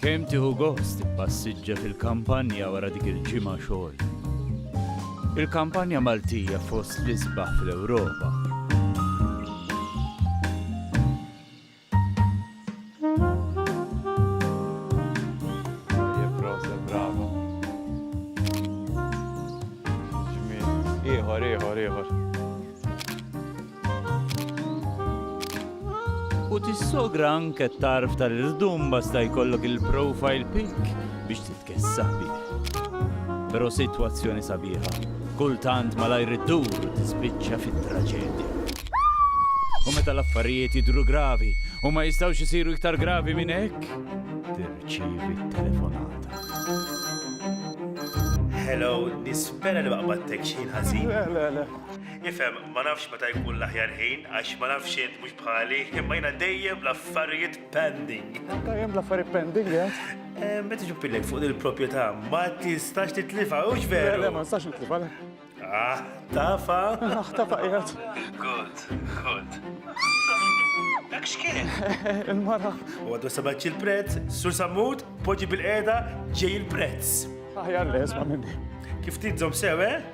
Kemm tieħu gost tippassiġġa fil-kampanja wara dik il-ġimgħa xogħol? Il-kampanja Maltija fost l-isbaħ fl-Ewropa. Ieħor, ieħor, ieħor. U tissogra anke t-tarf tal-irdum basta jkollok il-profile pic biex titkessaħ bih. Però sitwazzjoni sabiħa, kultant malajr iddur u tispiċċa fit-traġedja. U meta l-affarijiet jidhru gravi u ma jistgħux isiru iktar gravi minn hekk, tirċievi t-telefonata. Hello, nispera li ma qbadtek xejn ħażin. Le, le, le. Nifhem, ma nafx meta jkun l-aħjar ħin, għax ma nafx int mhux bħali, imma jiena dejjem bl-affarijiet pending. Anke hemm l-affarijiet pending, eh? Meta tiġi pilek fuq il-proprjetà, ma tistax titlifha, hux veru? Le, ma nistax nitlifha, le. Ah, tafa? Ah, tafa qiegħed. Good, good. Dak x'kien? Il-mara. U għadu sabaċ il-prezz, sur sammut, poġi bil-qeda, ġej il-prezz. Aħjar le, isma' minni. Kif tidzom sew, eh?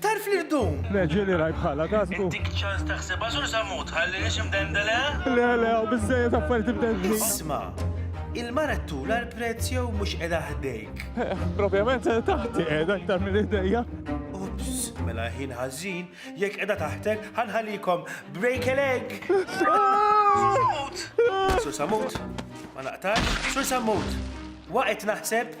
Tarf li rdum! Le, ġieli rajt bħalha, tasbu? Intik ċans taħsibha Sur Sammut, tħalliniex imdendel, eh? Le, le, hawn biżżejjed affarijiet imdendlin. Isma', il-mara ttul għal prezz jew mhux qiegħda ħdejk? Propjament taħti qiegħda aktar minn idejja. Ups, mela ħin ħażin, jekk qiegħda taħtek ħa nħallikom break a leg! Sammut! Sur Sammut, ma naqtax, Sur Sammut, waqgħet naħseb